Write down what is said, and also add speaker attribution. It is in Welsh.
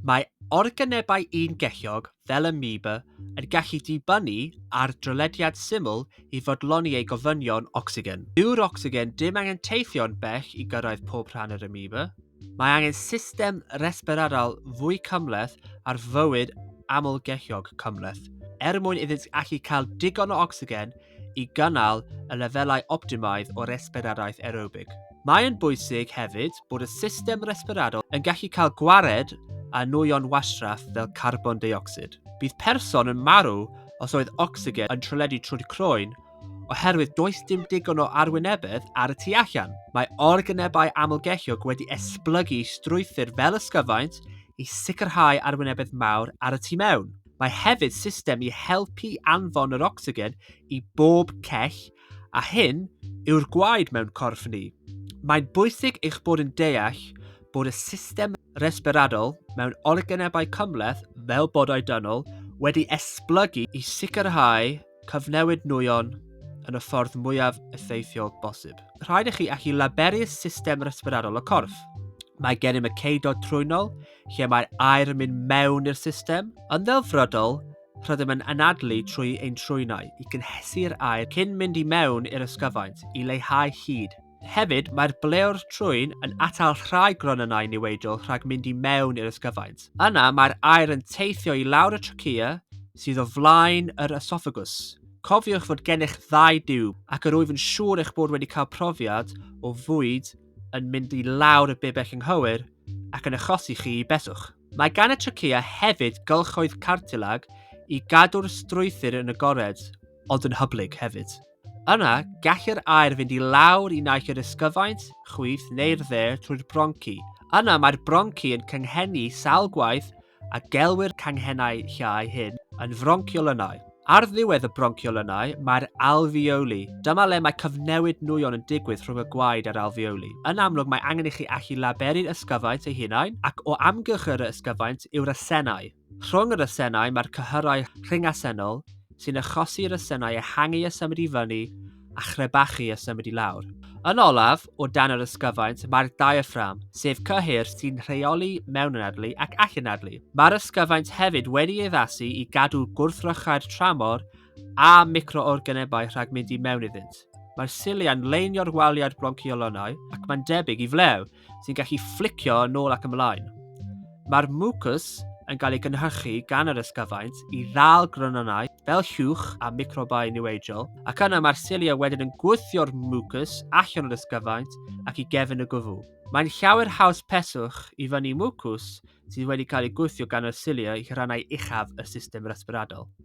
Speaker 1: Mae organebau ungelliog, fel ameba, yn gallu dibynnu ar drylediad syml i fodloni eu gofynion ocsigen. Dyw'r ocsigen ddim angen teithio'n bell i gyrraedd pob rhan yr ameba. Mae angen system resbiradaol fwy cymhleth ar fywyd amlgelliog cymhleth, er mwyn iddynt allu cael digon o ocsigen i gynnal y lefelau optimaidd o resbiradaeth aerobig. Mae'n bwysig hefyd bod y system resbiradol yn gallu cael gwared â nwyon wastraff fel carbon deuocsid. Bydd person yn marw os oedd ocsigen yn trwledu trwy'r croen oherwydd does dim digon o arwynebedd ar y tu allan. Mae organebau amlgellog wedi esblygu strwythur fel ysgyfaint i sicrhau arwynebedd mawr ar y tu mewn. Mae hefyd system i helpu anfon yr ocsigen i bob cell, a hyn yw'r gwaed mewn corff ni. Mae'n bwysig eich bod yn deall bod y system resberadol mewn organebau cymhleth fel bodau dynol wedi esblygu i sicrhau Cyfnewid nwyon yn y ffordd mwyaf effeithiol bosib. Rhaid i chi allu laberu'r system resbirarol y corff. Mae gennym y ceudod trwynol lle mae'r aer yn mynd mewn i'r system. Yn ddelfrydol, rydym yn anadlu trwy ein trwynau i gynhesu'r aer cyn mynd i mewn i'r ysgyfaint i leihau hyd Hefyd, mae'r blew'r trwyn yn atal rhai gronynnau niweidol rhag mynd i mewn i'r ysgyfaint. Yna, mae'r aer yn teithio i lawr y trachea sydd o flaen yr esophagus. Cofiwch fod gennych ddau diwb, ac yr wyf yn siŵr eich bod wedi cael profiad o fwyd yn mynd i lawr y bibell ynghywir ac yn achosi chi i beswch. Mae gan y trachea hefyd gylchoedd cartilag i gadw'r strwythur yn agored, ond yn hyblyg hefyd. Yna, gall yr aer fynd i lawr i naill yr ysgyfaint, chwith neu'r dde trwy'r bronci. Yna mae'r bronci yn cynghennu sawl gwaith a gelwir canghennau llai hyn yn fronchiolynau. Ar ddiwedd y bronchiolynau mae'r alfeoli. Dyma le mae cyfnewid nwyon yn digwydd rhwng y gwaed a'r alfeoli. Yn amlwg mae angen i chi allu laberu'r ysgyfaint ei hunain ac o amgylch yr ysgyfaint yw'r asennau. Rhwng yr asennau mae'r cyhyrau rhyngasennol sy'n achosi i'r asennau ehangu a symud i fyny a chrebachu a symud i lawr. Yn olaf, o dan yr ysgyfaint, mae'r diaphragm, sef cyhyr sy'n rheoli mewnanadlu ac allanadlu. Mae'r ysgyfaint hefyd wedi ei addasu i gadw gwrthrychau'r tramor a microorganebau rhag mynd i mewn iddynt. Mae'r cilia'n leinio'r waliau'r bronciolonau ac mae'n debyg i flew, sy'n gallu fflicio yn ôl ac ymlaen. Mae'r mucus yn cael ei gynhyrchu gan yr ysgyfaint i ddal grynonau fel llwch a microbau niweidiol, ac yna mae'r cilia wedyn yn gwthio'r mucus allan o'r ysgyfaint ac i gefn y gwfw. Mae'n llawer haws peswch i fyny mucus sydd wedi cael ei gwthio gan y cilia i rannau uchaf y system resbyradol.